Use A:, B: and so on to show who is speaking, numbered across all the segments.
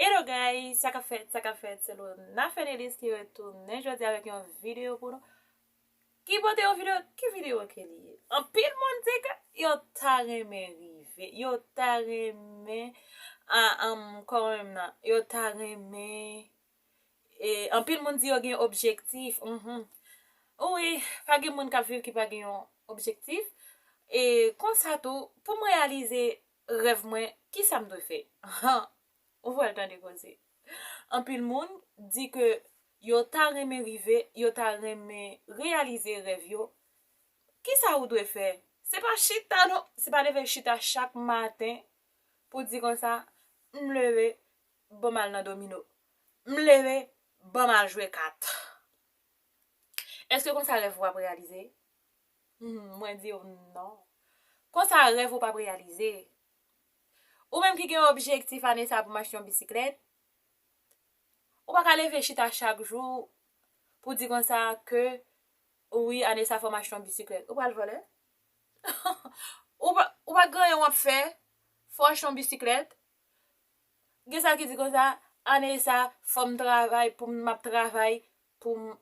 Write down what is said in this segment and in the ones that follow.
A: Hello guys, sa kap fèt, sa kap fèt, se Lona Fedelis ki retounen jodi avèk yon video pou nou. Ki pote yon video, ki video ke li ye? Anpil moun di ke yo ta renmen rive, yo ta renmen a am kòm nan, yo ta renmen e anpil moun di yo gen objektif, mh wi, pa gen moun kap viv ki pa gen yon objektif e konsa tou pou m reyalize Rèv mwen, kisa m dwe fè? Han! Ou pral tande koze. Anpil moun di ke yo ta renmen rive, yo ta renmen reyalize rèv yo. Kisa ou dwe fè? Se pa chita non! Se pa leve chita chak maten pou di konsa, M leve, ban m al nan domino. M leve, ban m al jwe kat. Èske konsa rèv ou ap reyalize? Mwen di yo non. Konsa rèv ou pap reyalize. Ou menm ki gen objektif ane sa pou m achte yon bisiklèt, ou pa ka leve chita chak jou pou di konsa ke wi ane sa fò m achte yon bisiklèt. Ou pral vole? Ou pa gen anyen w ap fè, fò w achte yon bisiklèt. Gen sa ki di konsa, ane sa fò m travay pou m ap travay pou m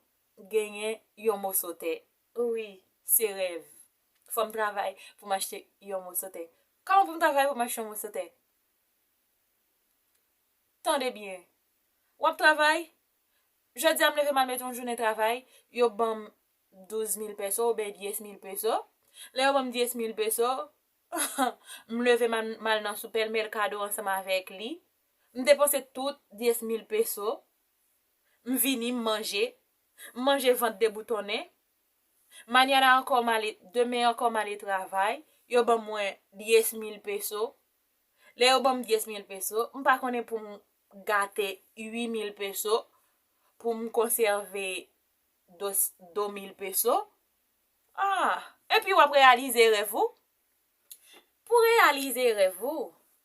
A: genyen yon moso tè. Wi se rèv. Fòm travay pou m achte yon moso tè. Kòman pou m travay pou m achte yon moso tè? Tande byen. W ap travay, jodi a m leve m al mete yon jounen travay, yo ban m 12 mil peso oubyen 10 mil peso. Lè yo ban m 10 mil peso, m leve m al nan sou pèl mèkado ansanm avèk li. M depanse tout 10 mil peso. M vini, m manje. M manje vant deboutonnen. Mañana ankò m ale, demen ankò m ale travay. Yo ban mwen diez mil peso. Lè yo ban m diez mil peso, m pa konnen pou m gate ui mil peso, pou m konsève dos, do mil peso. Ah! Epi w ap reyalize rèv ou. Pou reyalize rèv ou,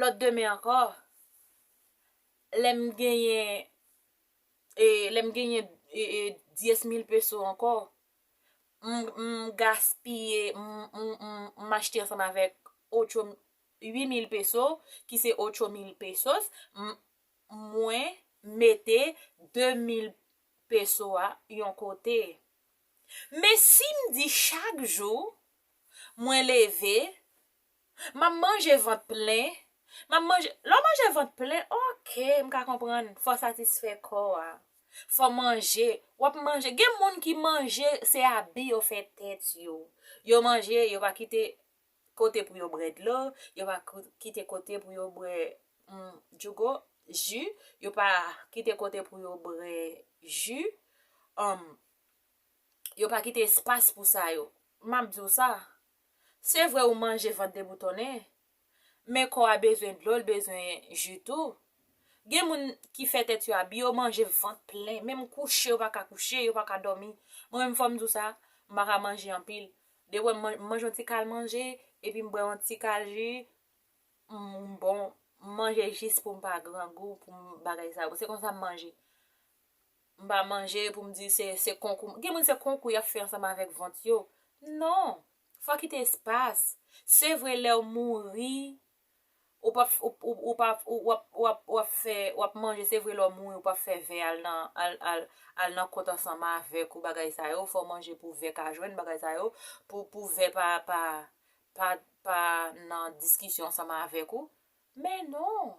A: Lòt demen ankò, lè m genyen, e, lè m genyen dyes mil peso ankò, m, m gaspiye, m, m, m, m achte ansanm avèk otcho m, ui mil peso, ki se otcho mil pesos, m, mwen mete de mil peso a yon kote. Men si m di chak jou, mwen leve. Map manje vant plen. Map manje, lè w manje vant plen ok m ka konprann fò w satisfè kò a. Fò w manje, wap manje, gen moun ki manje se abi yo fè tèt yo. Yo manje yo pa kite kote pou yo brè dlo, yo pa kite kote pou yo brè djougo, ji, yo pa kite kote pou yo brè ji, yo pa kite espas pou sa yo. Map di w sa, Se vre ou manje vant deboutonnen, men kò a bezwen dlo, l bezwen ji tou. Gen moun ki fè tèt yo abi, yo manje vant plen, menm kouche yo pa ka kouche, yo pa ka dòmi. Mwen menm fò m di w sa, m pa ka manje anpil. Depi m manje yon ti kal manje, epi m bwè yon ti kal ji, m bon. M manje jis pou m pa grangou, pou m bagay sa yo. Se konsa m manje. M pa manje pou m di se se konkou m. Gen moun se konkou y ap fè ansanm avèk vant yo. Non! Fò w kite espas. Se vre lè w mouri, ou p ap, ou p ap, ou ap, ou ap, ou ap fè, ou ap manje, se vre lè w mouri ou p ap fè vè al nan, al, al, al nan kont ansanm avèk ou bagay sa yo, fò w manje pou vè ka jwenn bagay sa yo, pou, pou vè pa, pa, pa, pa nan diskisyon ansanm avèk ou. Men non!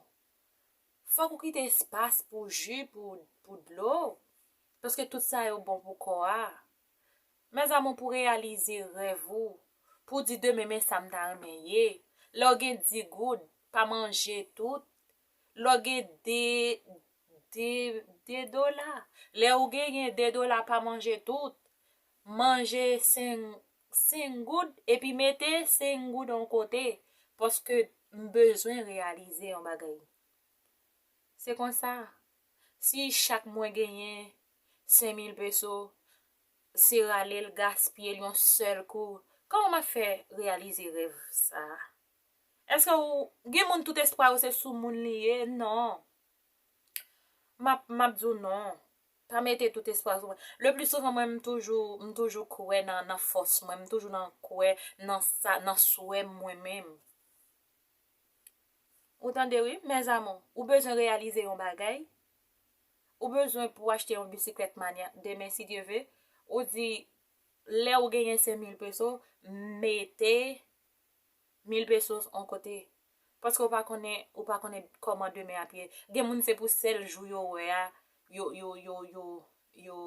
A: Fòk ou kite espas pou ju, pou dlo, paske tout sa yo bon pou kò a. Mes amour pou reyalize rèv ou, pou di demen men sa m ta renmen ye, lè w gen di goud, pa manje tout, lè w gen de, de, de dola, lè w gen gen de dola pa manje tout, manje 5, 5 goud epi mete 5 goud on kote paske m bezwen reyalize yon bagay. Se konsa, si chak mwen genyen 5 mil peso, se rale l gaspiye l yon sèl kou, kòman m ap fè reyalize rèv sa a? Eske ou, gen moun tout espwa yo se sou moun li ye? Non. M ap di w non. Pa mete tout espwa sou mwen. Le pli souvan mwen m toujou, m toujou kwè nan fòs mwen, m toujou nan kwè nan sa, nan swè mwen menm. Ou tande wi, mes amour, ou bezwen reyalize yon bagay, ou bezwen pou achte yon bisiklèt manya, demen si Dye ve, ou di, lè ou genyen 5000 peso, mete 1000 pesos on kote paske ou pa konnen ou pa konnen kòman demen ap ye gen moun se pou sèl jou yo wè a yo yo yo yo yo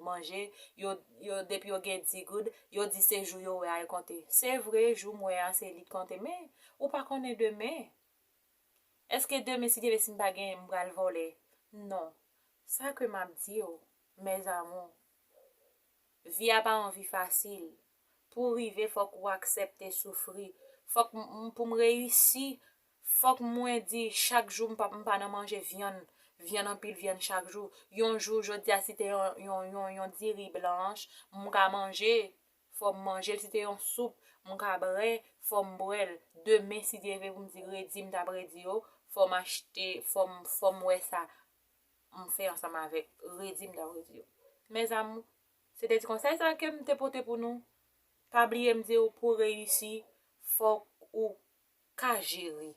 A: manje yo yo depi yo gen di goud yo di se jou yo wè a yo konte se vre jou m wè a se li k konte men ou pa konnen demen eske demen si Dyevle si m pa gen m pral vòlè non sa ke m ap di ou mèzamou vi a pa yon vi fasil Pou rive fòk ou aksèpte soufri. Fòk m pou m reyisi fòk mwen di chak jou m pap m pa nan manje vyann, vyann anpil vyann chak jou. Yon jou jodi a si te yon yon yon diri blanch m ka manje, fò m manje l. Si te yon soup m ka bre, fò m bre l. Demen si Dye vle pou m di redi m ta redi yo, fò m achte fò m fò m wè sa m fè ansanm avèk redi m ta redi yo. Mèzamou Se te ti konsèy sa kem te pote pou nou, pa bliyem diw pou reyisi fòk ou ka jere.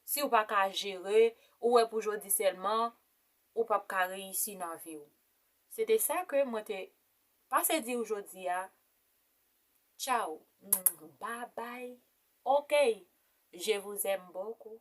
A: Siw pa ka jere, ou wè pou jodi sèlman, ou pap ka reyisi nan viw. Se te sa ke mwen te pase diw jodi a, tchaw, babay, okey, je vous aime beaucoup.